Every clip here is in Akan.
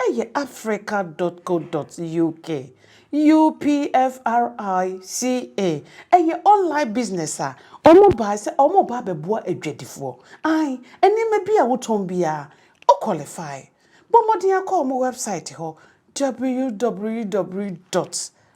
Ɛyɛ Africa dot co dot uk, UPFRICA, ɛyɛ online business a wɔbae sɛ wɔreba abɛboa adwadifoɔ. Ae, nneɛma biara a wotɔn biara, wo qualify. Bɔ mmɔden ara kɔ wɔn website hɔ, www dot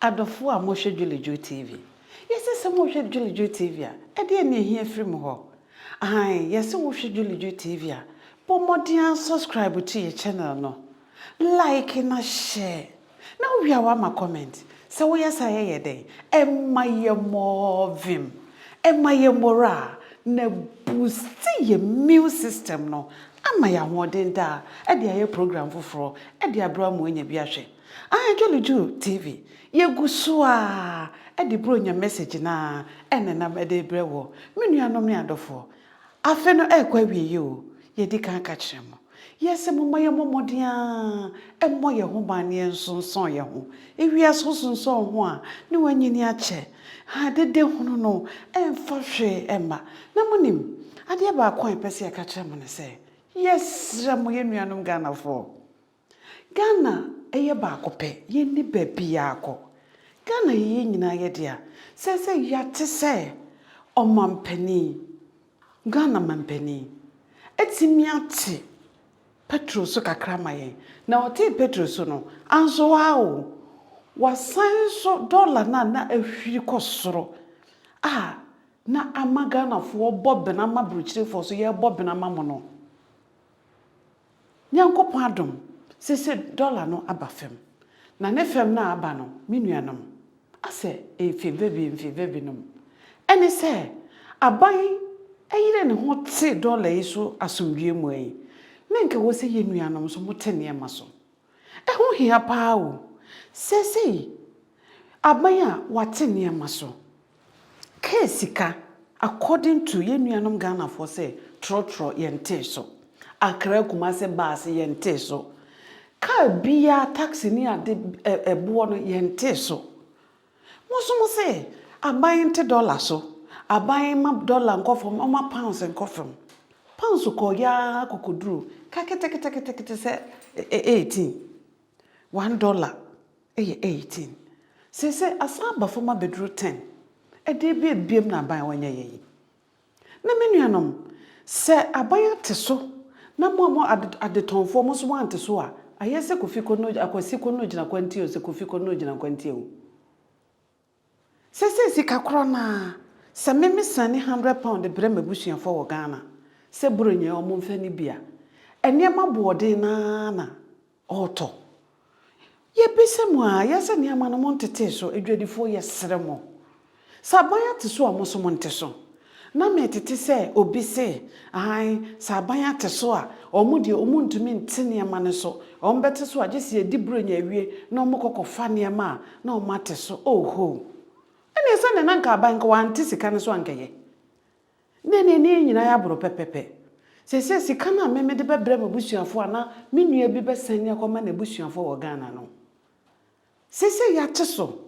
Adɔfoɔ a mohwɛ Dwulidwul TV, yɛse sɛ mohwɛ Dwulidwul TV a, ɛdeɛn na ɛhia firi mo hɔ? Aane, yɛse wohwɛ Dwulidwul TV a, bɔ mmɔden ara subscribe to yɛ channel no, like na share, na wowie a woama comment. Sɛ woyɛ saa a yɛyɛ dɛn? Ɛma yɛ more vim, ɛma yɛ morale, na ɛbuusti yɛ immune system no ama yɛ ahoɔden daa de ayɛ program foforɔ de abrɛ wo ama woanya bi ahwɛ. Anhwɛ no Jew TV, yegu so ara de Buronya message no ara na nam de rebrɛ wɔ. Me nuanom ne adɔfoɔ, afe no ɛrekɔ awieɛ o, yɛdi kan ka kyerɛ mo, yɛse momma yɛmmɔ mmɔden ara mmɔ yɛn ho ban na yɛnsonsɔn yɛn ho. Ewiase wosonsɔn wo ho a, ne w'anyini akyɛ. Ha dede hunu no ɛmfa hwee mma. Na monim, adeɛ baako a yɛpɛ sɛ yɛka kyerɛ mo ne sɛ, yɛsrɛ mo yɛn nuanom Ghanafoɔ, Ghana yɛ baako pɛ, yɛnni baabiara kɔ. Ghana yɛ yɛn nyinaa yɛ dea. Seesei yɛate sɛ ɔmampanin, Ghana mampanin atumi ate Petro so kakra ama yɛn. Na ɔtee Petro so no, anso ara o, wasan nso dɔla no a na ahwiri kɔ soro a na ama Ghanafoɔ bɔ bena ma Aburokyirefoɔ so yɛrebɔ bena ma mo no. Nyankopɔn adom, sese dollar no aba fam. Na ne fam no a aba no, me nuanom, asɛ mfevebi mfevebi nom, ɛne sɛ, aban ɛyere ne ho te dollar yi so asomdwie mu ɛn, na nka ɛwɔ sɛ yɛn nuanom nso mo te nneɛma so. Ɛho hia paa o, sesei, aban a wɔate nneɛma so. Kaa sika according to yɛn nuanom Ghanafoɔ sɛ trɔtrɔ yɛntee so, Accra Kumasi bus yɛntee so, kaa biara taxi ne ade ɛ boɔ no yɛntee so. Mo nso mo se aban nte dollar so, aban mma dollar nkɔ fam ɔmma pounds nkɔ fam. Pounds kɔɔ yɛ ara kɔ kɔduru ka ketekete ketekete sɛ 18, one dollar. Ɛyɛ eighteen. Seesei asan aba fam abɛduru ten. Ɛdeɛn abuebue na aban wɔnyɛ yɛn yi? Na me nuanom, sɛ aban ate so na mo a mo adetɔnfoɔ mo nso moante so a, ayɛ sɛ Kofi Kono, Akwasi Kono gyina kwantie o, sɛ Kofi Kono gyina kwantie o. Sesei sika korɔ no ara, sɛ me me sɛne hundred pound de brɛ m'abusuafoɔ wɔ Ghana sɛ Buronya wɔn mfa nni bi a, nneɛma aboɔden no ara na ɔretɔ. Yɛbisa mo ara, yɛ sɛ nneɛma no montetee so, adwadifoɔ yɛsrɛ mo. Sɛ aban ate so a, mo nso monte so. Na metete sɛ obi se, Aane, sɛ aban ate so a, wɔn deɛ wɔnntumi nte nneɛma no so, wɔbɛte so a gye sɛ yɛdi Buronya awie na wɔkɔ kɔfa nneɛma a na wɔate so, oh hoo! Ɛnneɛ sɛdeɛ na anka aban nka wɔante sika no so a anka ɛyɛ, na ɛnneɛ na yɛn nyinaa yɛaboro pɛpɛpɛ. Seesei sika no a me mede bɛbrɛ m'abusuafoɔ anaa me nua bi bɛsane akɔma n'abusuafoɔ wɔ Ghana no, seesei yɛate so,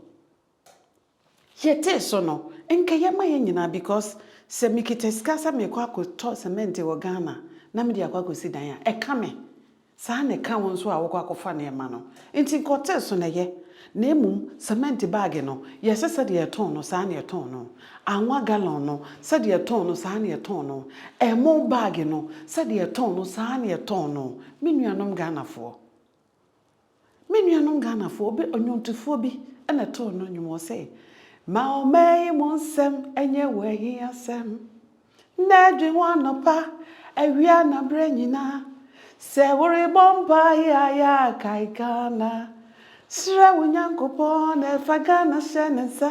Yɛtee so no, nka yɛ ma yɛn nyinaa because sɛ mekita sika sɛ merekɔ akɔtɔ cement wɔ Ghana na mede akɔ akɔsi dan a, ɛka me. Saa ara na ɛka wo nso a wokɔ akɔfa nneɛma no. Enti nka ɔtee so na ɛyɛ. Na mmom cement bag no, yɛ sɛ sɛdeɛ yɛtɔn no, saa ara na yɛtɔn no. Anwa gallon no, sɛdeɛ yɛtɔn no, saa ara na yɛtɔn no. Ɛmo bag no, sɛdeɛ yɛtɔn no, saa ara na yɛtɔn no. Me nuanom Ghanafoɔ. Me nuanom Ghanafoɔ, obi, ɔnwontofoɔ bi na ɛtoo no nnwom, ɔse, Ma ɔman yi mu nsɛm nyɛ wo ahiasɛm, Nnɛ dwen ho anɔpa, awia na berɛ nyinaa, Sɛ worebɔ mpaeɛ a yɛ a kae Ghana, Srɛ wo Nyankopɔn na fa Ghana hyɛ ne nsa,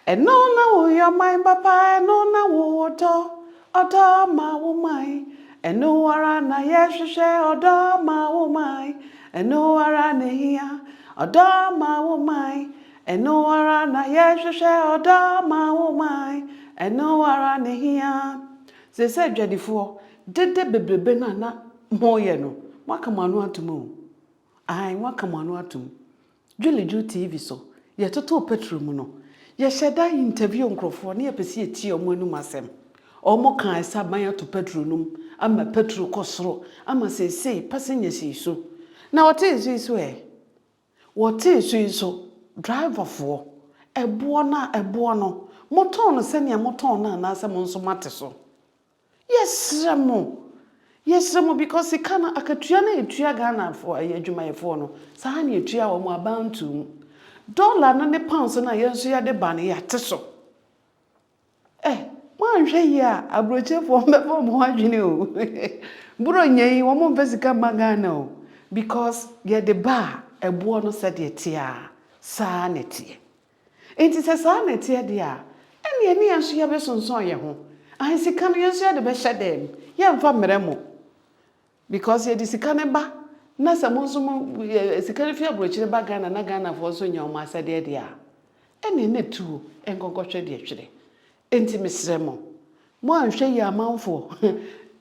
Ɛno na woyɛ ɔman papa, ɛno na wowɔ dɔ, Ɔdɔ ma wo mae, ɛno ara na yɛhwehwɛ, ɔdɔ ma wo mae, ɛno ara na ehia. Ɔdɔ ma wo mae, ɛno ara na yɛhwehwɛ, ɔdɔ ma wo mae, ɛno ara na ehia. Seesei adwadifoɔ, dede bebrebe no a na moreyɛ no, moaka mo ano atom o. Aane, moaka mo ano atom. Dwuleju TV so, yɛtotoo Petro mu no, yɛhyɛ da interview nkorɔfoɔ na yɛpɛ sɛ yɛtie wɔn anom asɛm. Wɔn kaa sɛ aban ato Petro nom ama Petro kɔ soro ama seesei passengers yi so na wɔte nso yi so ɛ. Wɔte nso yi so driver foɔ, ɛboɔ no a ɛboɔ no, motɔn no sɛdeɛ motɔn no anaasɛ mo nso moate so? Yɛsrɛ mo, yɛsrɛ mo because sika no akatua no a yɛtua Ghanafoɔ ɛyɛ adwumayɛfoɔ no saa ara na yɛtua wɔn abantuo mu. Dollar no ne pounds no a yɛn nso yɛde ba no yɛate so. Eh, moanhwɛ yie a aburokyefoɔ bɛfa wɔn ho adwene o. Buronya yi wɔn mfa sika mma Ghana o because yɛde ba a ɛboɔ no sɛdeɛ ɛteɛ a saa na ɛteɛ. Enti sɛ saa na ɛteɛ deɛ a, ɛnneɛ ɛne yɛn nso yɛbɛsonsɔn yɛn ho. Ahe, sika no yɛn nso yɛde bɛhyɛ dan mu, yɛremfa mmrɛ mo. Because yɛde sika no ba na sɛ mo nso mo, eh, sika no fi aburokyire ba Ghana na Ghanafoɔ nso nya wɔn asɛdeɛ deɛ a, ɛnneɛ na tuo nkɔnkɔhwɛ deɛ ɛtwere. Enti mesrɛ mo, mo anhwɛ yie amanfoɔ,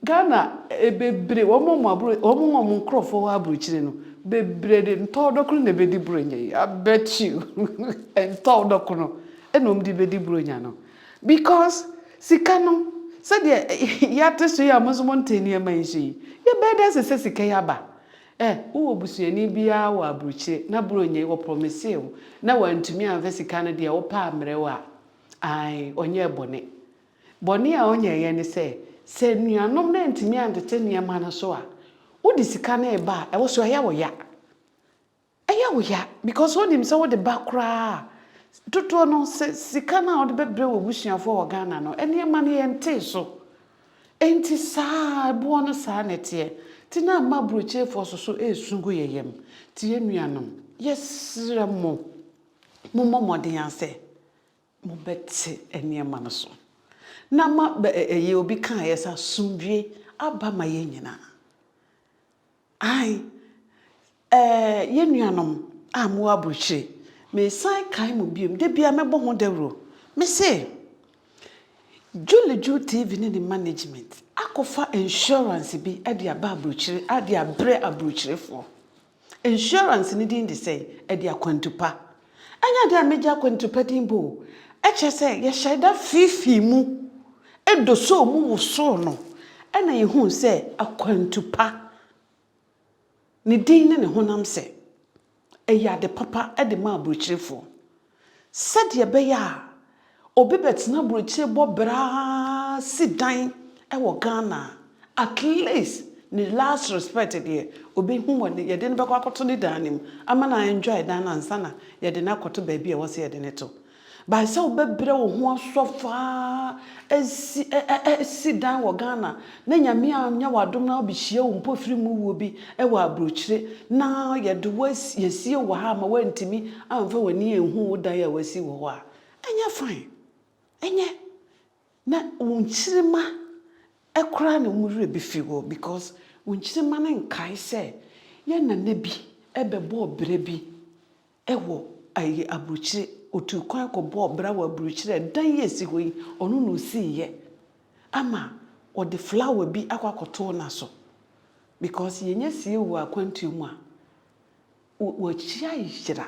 Ghana bebree, wɔn a wɔaboro, wɔn a wɔn nkorɔfoɔ wɔ aburokyire no, bebree de ntɔɔdɔkono na ɛbɛdi Buronya yi, I bet you, ntɔɔdɔkono na wɔde bɛdi Buronya no, because sika no, sɛdeɛ yɛate so yi a mo nso monte nneɛma yi so yi, yɛbɛɛ dɛ ase sɛ sika yi aba. Ɛ, wowɔ busuani biara wɔ aburokyire na Buronya yi, wɔprɔmisee wo na wantumi amfa sika no deɛ, wopɛ a mmerɛ wo a. Aane, ɔnyɛɛ bɔne. Bɔne a ɔnyɛeɛ ne sɛ, sɛ anuanom no antumi antete nneɛma no so a, wode sika no reba a, ɛwɔ sɛ ɛyɛ wo ya. Ɛyɛ wo ya because wonim sɛ wode ba koraa a, dodoɔ no, sɛ sika no a wode bɛbrɛ w'abusuafoɔ wɔ Ghana no, nneɛma no yɛntee so. Enti saa ara, ɛboɔ no saa na ɛteɛ. Enti na ama aburokyerefoɔ soso resu gu yɛn yam. Enti yɛn nuanom, yɛsrɛ mo. Mommɔ mmɔden ara sɛ mobɛte nneɛma no so, na ma bɛ ɛ ɛyɛ obi kaeɛ sɛ asomdwoeɛ aba ma yɛn nyinaa. Ae, ɛ yɛn nuanom a mowɔ aburokyire, mesan kae mo bio, da biara mɛbɔ ho dawuro, mese, Julie Juu TV ne ne management akɔfa insurance bi de aba aburokyire de abrɛ aburokyirefoɔ. Insurance no din de sɛn? Ɛde akwantu pa. Ɛnyɛ dɛ megye akwantu pa din bo o, ɛkyerɛ sɛ yɛhyɛɛ da fiifii mu dosoo mu wosoo no na yɛhuu sɛ akwantu pa, ne din ne ne honam sɛ, ɛyɛ ade papa de ma aburokyerefoɔ. sɛdeɛ ɛbɛyɛ a obi bɛtena aburokyire bɔ bra si dan wɔ Ghana a, at least ne last respect deɛ ɔbɛhu hɔ no, yɛde no bɛkɔ akɔto ne dan no mu ama no a enjoy dan no ansa na yɛde no akɔto baabi a ɛwɔ sɛ yɛde no to. But sɛ wobɛbrɛ wo ho asɔ faa si dan wɔ Ghana, na Nyame annyɛ wo adom na obehyia wo mpofiri mu wuo bi wɔ abrokyire na yɛde wo asi, yɛasie wo wɔ ha ama woantumi amfa w'ani anhu wo dan a w'asi wɔ hɔ a, ɛnyɛ fine? Ɛnyɛ? Na wo nkyirima koraa na wɔn werɛ befi wo because wo nkyirima no nkae sɛ yɛn nana bi bɛbɔɔ bra bi Ɛwɔ ayi aburukyire otuu kwan kɔbɔɔ bra wɔ aburukyire a ɛdan yi a ɛsi hɔ yi ɔno na ɔsiiɛ ama ɔde flower bi akɔ akɔtoo no so because yɛnya sie wɔ akwantuo mu a wɔ wɔakyia yera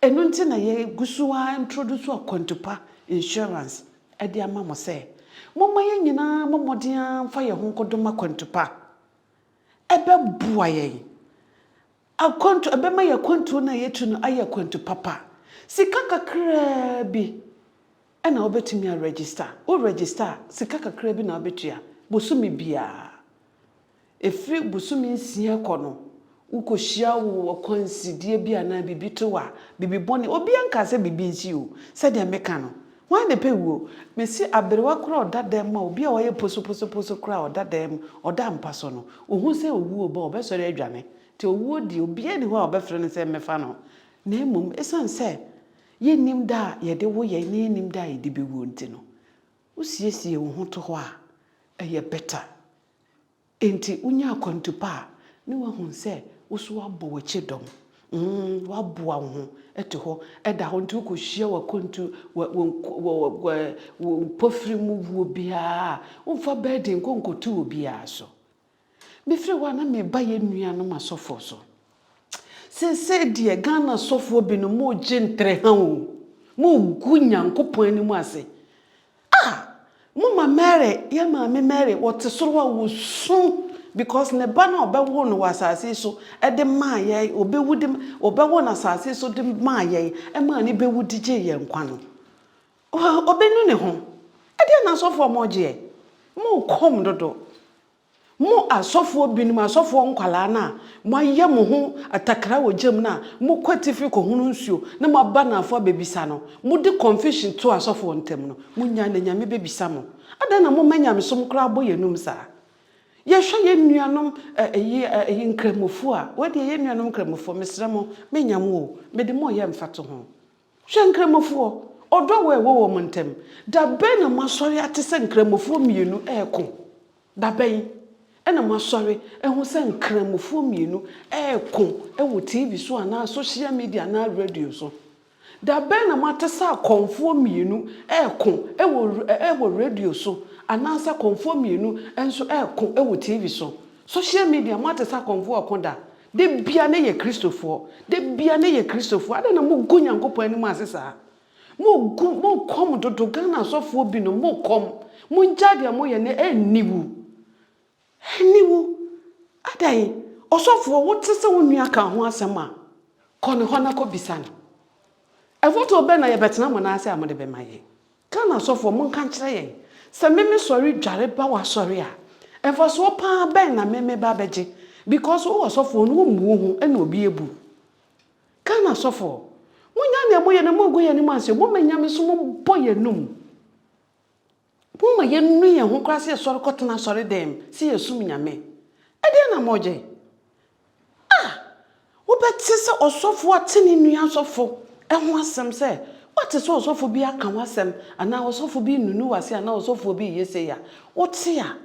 ɛno nti na yɛgu so ara introduce akwantupa insurance ɛde ama mo sɛ momma yɛn nyinaa mmɔ mmɔden ara mfa yɛn ho nkɔdom akwantupa ɛbɛboa yɛn Akwantu, Ɛbɛma yɛn akwantuo no a yɛtu no ayɛ akwantu papa. Sika kakraa bi na wobɛtumi a register. Wo register a, sika kakraa bi na wobɛtua bosome biara. Ɛfiri bosome nsia kɔ no, wokɔhyia wo akwansideɛ bi anaa biribi to wo a, biribi bɔne, obiara nkaa sɛ biribi nsi o, sɛdeɛ meka no, Hwan na epɛ wuo? Mesi aberewa koraa a ɔda dɛm ma obi a wayɛ posoposoposo koraa a ɔda dɛm, ɔda mpa so no, ohu sɛ owuo ɔba a, ɔbɛsɔre adwane. Nti owuo deɛ, obiara nni hɔ a ɔbɛfrɛ no sɛ mmɛfa no. Na mmom, esiane sɛ yɛnnim da a yɛde wo yɛn na yɛnnim da a yɛde bɛwuo nti no, wosiesie wo ho to hɔ a, ɛyɛ better. Enti wonya akwantu pa a, ne woahu sɛ wo nso woabɔ w'akyi dɔm. Mm, woaboa wo ho atu hɔ da hɔ nti wokɔhyia w'akwantu, wo mpofiri mu wuo biara a, womfa burden nkɔ nkɔto obiara so. Mefiri hɔ a na mereba yɛn nuanom asɔfoɔ so. Seesei deɛ Ghana asɔfoɔ binom moregye ntrɛha o, moregu Nyankopɔn anim ase Ah! Mo ma Mary, yɛn maame Mary, wɔ te soro hɔ a, wɔ su, because ne ba no a ɔbɛwoo no wɔ asase yi so de maa yɛn, ɔbɛwu de, ɔbɛwɔ no asase yi so de maa yɛn, ɛmaa ne bɛwu de gyee yɛn nkwa no. Ɔbɛnu ne ho. Ɛdeɛ na asɔfoɔ mo gyeɛ. Mo kɔm dodo. Mo asɔfoɔ binom, asɔfoɔ nkwadaa no a moayɛ mo ho atakra wɔ gya mu no a mokɔ atifi kɔhono nsuo na moaba anafoɔ abɛbisa no, mode confusion to asɔfoɔ ntam no, monnyae na Nyame bɛbisa mo. Adɛn na moma nyamesom koraa bɔ yɛn anom saa? Yɛhwɛ yɛn nuanom Nkramofoɔ a, wei deɛ yɛn nuanom Nkramofoɔ, mesrɛ mo, mennya mo o, mede mo reyɛ mfatoho. Hwɛ Nkramofoɔ, ɔdɔ wɔ a ɛwɔ wɔn ntam. Da bɛn na moasɔre ate sɛ Nkramofoɔ mmienu reko? Da bɛn na moasɔre ahu sɛ Nkramofoɔ mmienu reko wɔ TV so anaa sohyia media anaa radio so? Da bɛn na moate sɛ akɔmfoɔ mmienu reko wɔ wɔ radio so anaa sɛ akɔmfoɔ mmienu nso reko wɔ TV so? Sohyia media, moate sɛ akɔmfoɔ reko da? Da biara na yɛ Kristofoɔ. Da biara na yɛ Kristofoɔ. Adɛn na mogu Nyankopɔn anim ase saa? Mogu, mokɔm dodo. Ghana asɔfoɔ binom, mokɔm. Mongyae deɛ moyɛ no, ɛnni wo. Ɛnni wo. Adɛn? Ɔsɔfoɔ, wote sɛ wo nua ka wo ho asɛm a, kɔ ne hɔ na kɔbisa no. Mfatoho bɛn na yɛbɛtena mo nan ase a mode bɛma yɛn? Ghana asɔfoɔ monka nkyerɛ yɛn sɛ meme sɔre dware ba w'asɔre a mfasoɔ paa bɛn na meme ba bɛgye because wo ɔsɔfoɔ no wommu wo ho ɛna obi abu wo Ghana asɔfoɔ monyaa nea moyɛ no mongu yɛn anim anseɛ moma nyame so mombɔ yɛn anum moma yɛnu yɛn ho koraa sɛ yɛsɔre kɔtena asɔre dɛm sɛ yɛsum nyame ɛdeɛn na mogye A Wobɛte sɛ ɔsɔfo ate ne nua asɔfo ho asɛm sɛ, Woate sɛ ɔsɔfo bi aka wo asɛm, anaa ɔsɔfo bi renunu w'ase anaa ɔsɔfo bi reyɛ sei a? Wote a,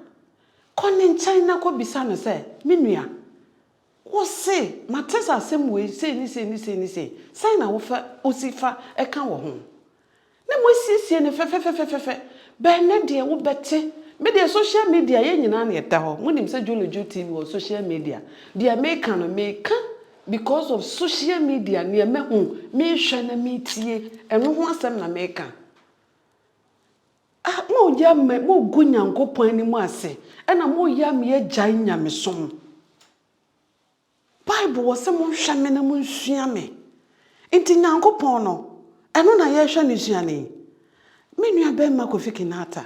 kɔ ne nkyɛn na kɔbisa no sɛ, Me nua, wose, 'Mate sɛ asɛm wei sei ne sei ne sei ne sei. Sɛn na wofa, wusi fa ka wɔ ho? Na mo asiesie no fɛfɛfɛfɛfɛfɛ bɛɛ nnɛ deɛ wo bɛte me deɛ social media yɛn nyinaa na ɛda hɔ mo nim sɛ jolojo TV wɔ social media deɛ me ka no me ka because of social media neɛ mɛ hu me hwɛ na me tie ɛno ho asɛm na me ka ah mo yɛ mɛ mo gu nyankopɔn anim ase ɛna mo yɛ me agyae nyamesom. Bible wɔ sɛ monhwɛ me na monsua me. Nti Nyankopɔn no, ɛno na yɛhwɛ no sua no yi. Me nua bɛɛma Kofi Kinaata,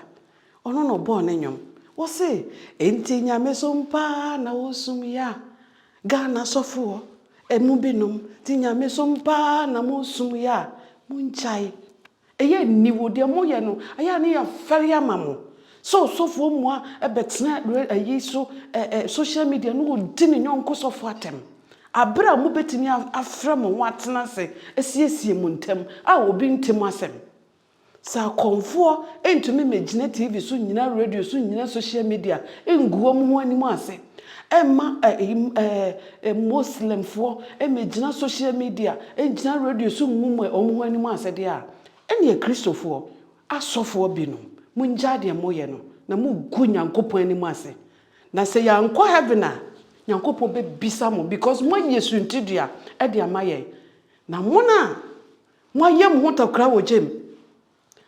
ɔno na ɔbɔɔ ne nwom. Ɔse, Nti Nyamesom paa na wosum ya, Ghana sɔfoɔ, ɛmu binom, nti Nyamesom paa na mosum ya, mongyae. Ɛyɛ nni hɔ, deɛ moyɛ no ayɛ a ne yɛafɛre ama mo, sɛ ɔsɔfoɔ mua bɛtena ayi so, social media, na ɔdi ne yɔnko sɔfoɔ atɛm, berɛ a mobɛtumi afrɛ mo ho atena ase asiesie mo ntam a obi nte mo asɛm. Sɛ akɔmfoɔ ntumi mmɛgyina TV so nnyina radio so nnyina social media nngu wɔn ho anim ase, Ɛmma Muslimfoɔ mmɛgyina social media, ngyina radio so ngu mo wɔn ho anim ase deɛ a, ɛnneɛ Kristofoɔ asɔfoɔ binom, mongyae deɛ moyɛ no, na mogu Nyankopɔn anim ase. Na sɛ yɛankɔ heaven a, Nyankopɔn bɛbisa mo because moayɛ suntidua de ama yɛn. Na mo a moayɛ mo ho takora wɔ gya mu,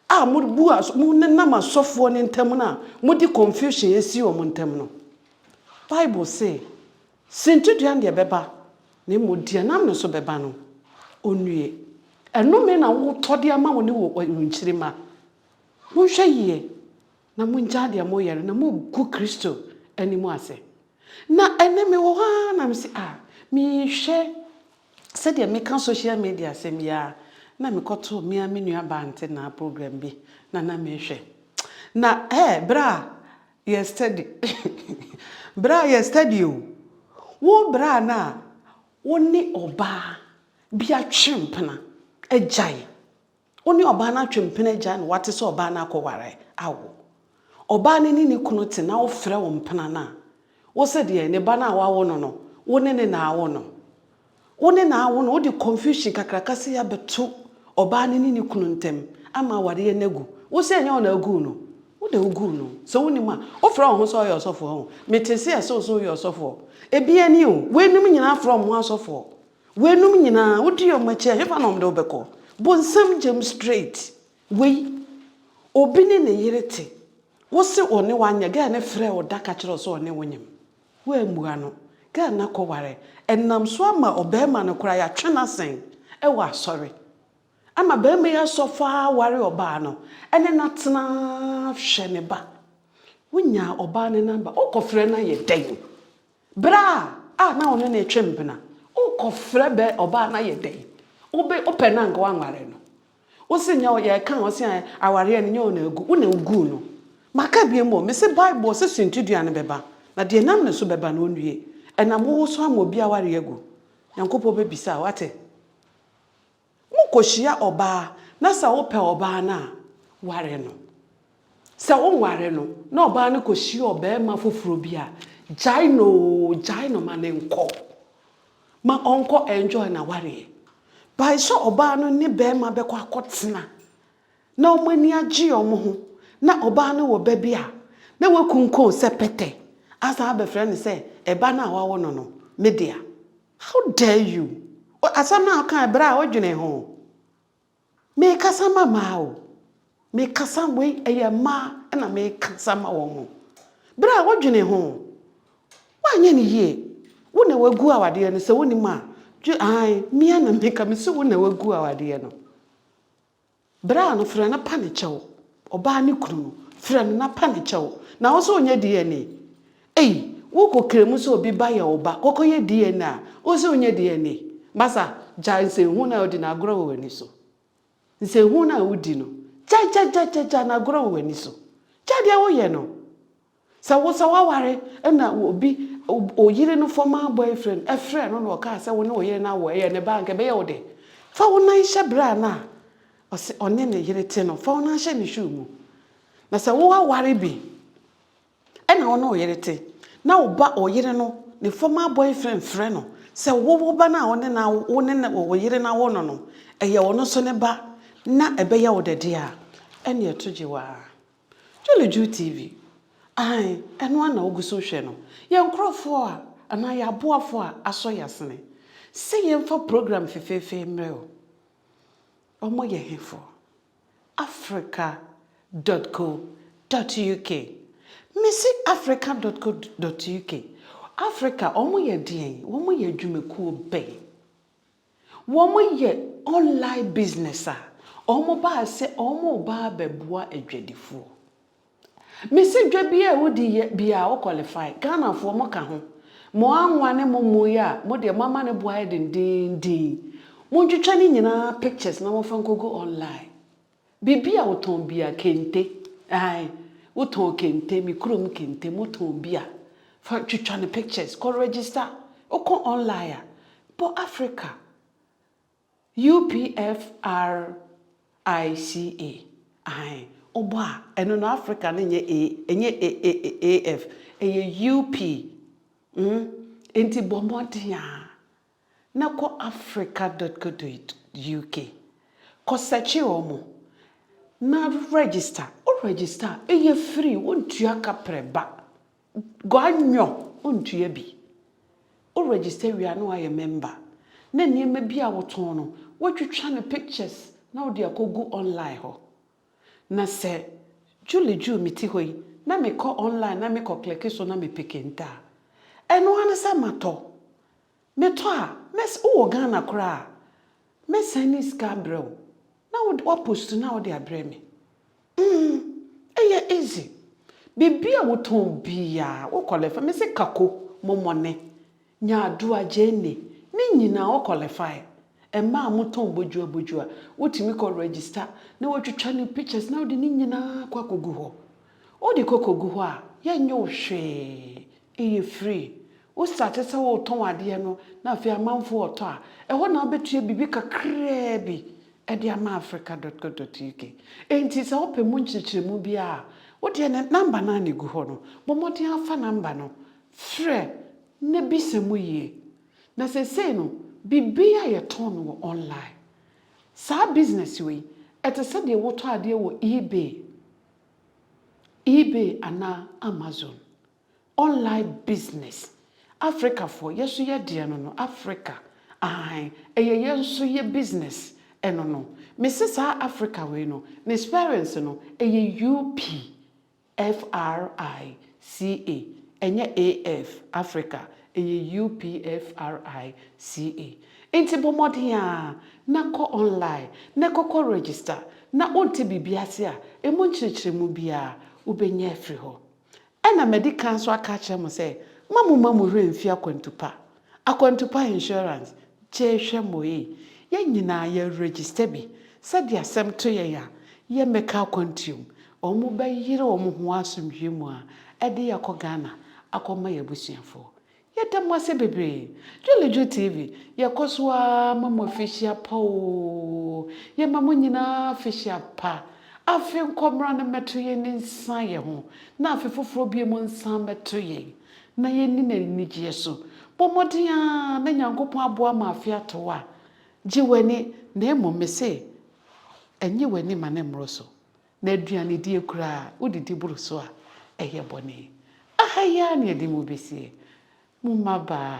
a mobu as monenam asɔfoɔ no ntam no a mode confusion asi wɔn ntam no. Bible se, Sintidua ndeɛ bɛba, na mmom deɛ nam ne so bɛba no, ɔnnue. Ɛnome na wotɔ de ama wo ne wo nkyirimma. Monhwɛ yie. Na mongyaa deɛ moreyɛ no, na mogu Kristo anim ase. Na ɛnnɛ mewɔ hɔ ara na mese, ah, mehwɛ sɛdeɛ meka social media asɛm yi ara na mekɔtoo me ara me nua baa Ntenaa program bi na na mehwɛ. Na eh, berɛ a yɛ study, berɛ a yɛ study o, wo berɛ a na wo ne ɔbaa bi atwe mpena agyae, Wo ne ɔbaa no atwe mpena agya na woate sɛ ɔbaa no akɔware awo. Ɔbaa no ne ne kunu te na wofrɛ wo mpena no a, wo se deɛn? Ne ba no a woawo no no, wo ne ne na awo no? Wo ne na awo no, wode confusion kakraka sei abɛto ɔbaa no ne ne kunu ntam ama awareɛ no agu. Wo se ɛnyɛ wo na woguu no? Wo deɛ woguu no. Sɛ wonim a, wofrɛ wo ho sɛ woyɛ ɔsɔfoɔ ho. Metee se ɛse wo se woyɛ ɔsɔfoɔ. Ebi ani o, weinom nyinaa frɛ wɔn ho asɔfoɔ. Weinom nyinaa wodi wɔn akyi a hefa na wɔde wo bɛkɔ? Bu nsɛm gyam straight. Wei obi ne ne yere te wo se ɔne wo anyɛ girl no frɛɛ wo da ka kyerɛɛ wo sɛ ɔne wo nyem woammua no girl no akɔware ɛnam so ama ɔbarima no koraa yɛatwe no asɛn wɔ asɔre ama barima yi asɔ fɔ ara ware ɔbaa no ɛne no atena hwɛ ne ba wonyaa ɔbaa no number wokɔfrɛ no ayɛ dɛn? Bere a a na ɔne no retwe mpena. Wokɔfrɛ bɛ ɔbaa no ayɛ dɛn? Wobe wopɛ no anka woanware no. Wo se nyɛ wo yɛreka a wo se ɛ awareɛ no nyɛ wo na agu, wo na wuguu no. Maka biom o, mese Bible ɔse suntidua no bɛba, na deɛ ɛnam ne so bɛba no ɔnwie. Ɛnam wo wo so ama obi awareɛ agu. Nyankopɔn bɛbisa wo, woate? Mo kɔhyia ɔbaa na sɛ wo pɛ ɔbaa no a, ware no. Sɛ wo nware no na ɔbaa no kɔhyia ɔbarima foforɔ bi a, gyae no oo, gyae no ma no nkɔ. Ma ɔnkɔ enjoy n'awareɛ. By sɛ ɔbaa no ne barima bɛkɔ akɔ tena na wɔn ani agye wɔn ho na ɔbaa no wɔ ba bi a, na wakunkun sɛ pɛtɛ asan abɛfrɛ no sɛ ɛba no a wawo no no, me dea. How dare you! Asɛm no a wokae bere a wodwenee ho. Merekasa ma mmaa o. Merekasa, wei ɛyɛ mmaa na merekasa ma wɔn. Bere a wodwenee ho, woanyɛ no yie. Wo na wagu awadeɛ no, sɛ wonim a, gye ae. Mia na meka, mese wo na wagu awadeɛ no. Bra no frɛ no pa ne kyɛw. Ɔbaa ne kunu no frɛ no na pa ne kyɛw na wo nso nyɛ DNA. Ei wo kɔ kra mu sɛ obi ba yɛ wo ba kɔkɔ yɛ DNA a wo nso nyɛ DNA. Masa gyae nsɛnhunu no a odi no agorɔ wɔ w'ani so. Nsɛnhunu no a wo di no gyae gyae gyae gyae gyae no agorɔ wɔ w'ani so. Gyae deɛ wo yɛ no. Sɛ wo sɛ woaware na obi, wo yere no former boyfriend, frɛɛ no na ɔkaa sɛ wo ne wo yere no awɔ, ɛyɛ ne ba a, anka ɛbɛyɛ wo dɛ? Fa wo nan hyɛ bra no a ɔse ɔne ne yere te no, fa wo nan hyɛ ne shoe mu. Na sɛ woaware bi na wo ne wo yere te, na wo ba, wo yere no, ne former boyfriend frɛ no sɛ wo, wo ba no a wo ne no awo, wo ne ne, wo yere no awo no no, ɛyɛ ɔno nso ne ba, na ɛbɛyɛ wo dɛ deɛ a, ɛnneɛ to gye wo ara. Julie Ju TV, Aane, ɛno ara na wogu so rehwɛ no. Yɛn nkorɔfoɔ a, anaa yɛn aboafoɔ a asɔ yɛn asene sɛ yɛmfa program fefeefe mmerɛ wo. Wɔn yɛ hefoɔ? Africa dot co dot UK, Mese Africa dot co dot UK, Africa, wɔn yɛ deɛn? Wɔn yɛ adwumakuo bɛn? Wɔyɛ online business a, wɔbaa sɛ wɔreba abɛboa adwadifoɔ. Mese dwa biara a wodi yɛ biara wo qualify. Ghanafoɔ moka ho. Mo anwa ne mo mmo yi a, mo deɛ moama no bo ayɛ dendeenden. Montwitwa ne nyinaa pictures na momfa nkɔgu online. Biribi a wotɔn biara, kente, ae, wotɔn kente, me kurom kente, motɔn bi a, fa twitwa no pictures, kɔ register, wokɔ online a, bɔ Africa, UPFRICA, ae, wobɔ a, ɛno no Africa no nyɛ A, ɛnyɛ AAAF, ɛyɛ UP, mm, enti bɔ mmɔden a, na kɔ africa dot co dot uk kɔ sɛkye wɔn na register wo register a ɛyɛ free wo ntua kaprɛ ba gua nyɔ wo ntua bi wo register wie a na wayɛ member na nneɛma bi a wotɔn no woatwitwa no pictures na wode akɔgu online hɔ Na sɛ Julie Jew me ti hɔ yi na me kɔ online na me kɔ kleke so na me pe kente a, ɛno ara ne sɛ ma tɔ. Me tɔ a, mɛs wo wɔ Ghana koraa a, mɛ sɛne sika abrɛ wo na wo wa post na wo de abrɛ me. Mm, ɛyɛ easy. Biribi a wo tɔn biara, wo kɔ lɛfɛ, me se kako, momone. Nyadua Jane, ne nyinaa o qualify. Mmaa a motɔn bodwoa bodwoa, wotumi kɔ register na watwitwa ne pictures na wode ne nyinaa kɔ akɔgu hɔ. Wode kɔ kɔgu hɔ a, yɛnyɛ wo hwee. Ɛyɛ free. Wo starte sɛ wotɔn adeɛ no na afei amanfoɔ retɔ a, ɛhɔ na wobɛtua biribi kakraa bi de ama Africa dot co dot uk. Enti sɛ wopɛ mu nkyerɛkyerɛmu biara a, wodeɛ no number no ara na ɛgu hɔ no. Bɔ mmɔden ara fa number no Frɛ na bisa mu yie. Na seesei no, biribiara yɛtɔn no wɔ online. Saa business wei, ɛte sɛ deɛ wotɔ adeɛ wɔ eBay, eBay anaa Amazon. Online business. Africafoɔ, yɛ nso yɛ deɛ no no, Africa, aane, ɛyɛ yɛ nso yɛ business ɛno no. Mese saa Africa wei no, ne spellings no, ɛyɛ UP. FRICA, ɛnyɛ AF, Africa, ɛyɛ UPFRICA. Enti bɔ mmɔden ara na kɔ online na kɔkɔ register na wonte biribi ase a, ɛmu nkyerɛkyerɛmu biara, wobɛnya afiri hɔ. Ɛna madi kan nso aka akyerɛ mo sɛ, mma momma mo werɛ mfi akwantu pa Akwantupa Insurance, gyee hwɛ moei, yɛn nyinaa yɛ register bi, sɛdeɛ asɛm to yɛn a, yɛn bɛka akwantuo mu, wɔn bɛ yere wɔn ho asomdwie mu a, ɛde yɛn akɔ Ghana, akɔ ma yɛn abusuafoɔ. Yɛ da mo ase bebree. Dwuleju TV, yɛ kɔ so ara ma mo afihyia pa oo, yɛ ma mo nyinaa afihyia pa, afe nkɔ mmra no mmɛto yɛn nsa yɛn ho, na afe foforɔ bio mo nsa mmɛto yɛn. na yɛnni no anigyeɛ so. Bɔ mmɔden ara na Nyankopɔn aboa ma afe ato wo a, gye w'ani, na mmom mese, ɛnye w'ani ma no mmoro so. Na aduanedie koraa, wodidi boro so a, ɛyɛ bɔne. Aha yi ara na yɛde mo bɛsie. Mo mmabaa.